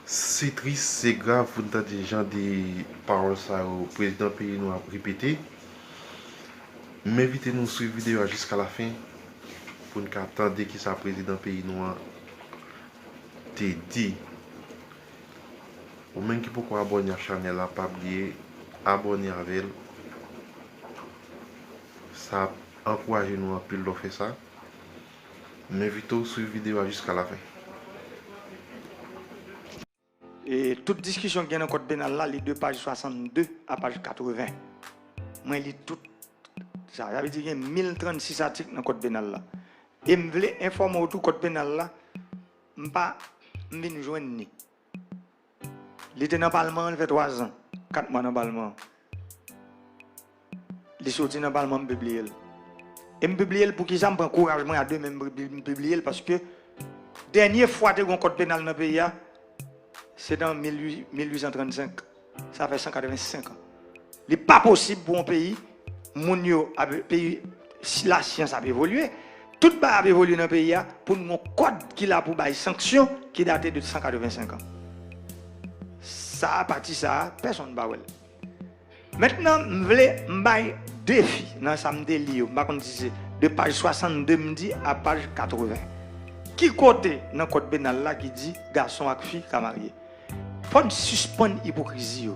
Se tris, se grav pou n tande jan de pawòl sa yo prezidan peyi nou ap repete. M envite nou swiv videyo a jiska lafen pou n ka tande kisa prezidan peyi nou an te di. Ou menm ki poko abòne ak chanèl la pa bliye abòne avè l. Sa ap ankouraje nou anpil lè w fè sa. M envite w swiv videyo a jiska lafen. E tout diskisyon ki gen nan kòd penal la li de paj 62 a paj 80. Mwen li tout sa. Sa vle di gen 1036 atik nan kòd penal la. E m vle enfòme w tou kòd penal la m pa m vin jwenn li. Li te nan palman an, li fè twazan, kat mwa nan palman an. Li soti nan palman an, m pibliye l. E m pibliye l poukisa? M pran kouraj mwen a de men m pibliye l paske dènye fwa te gen yon kòd penal nan peyi a se nan 1835. Sa fè 185 an. Li pa posib pou yon peyi, moun yo ap peyi si la syans ap evolye, tout bagay ap evolye nan peyi a pou nou gon kòd ki la pou bay sanksyon ki date de 185 an. Sa a pati sa a, pèsonn pa wè l. Mentnan m vle m bay defi nan sa m te li yo, m pa konn si se de paj 62 m di a paj 80. Ki kote nan kòd penal la ki di gason ak fi ka marye? Fòn sispann ipokrizi yo.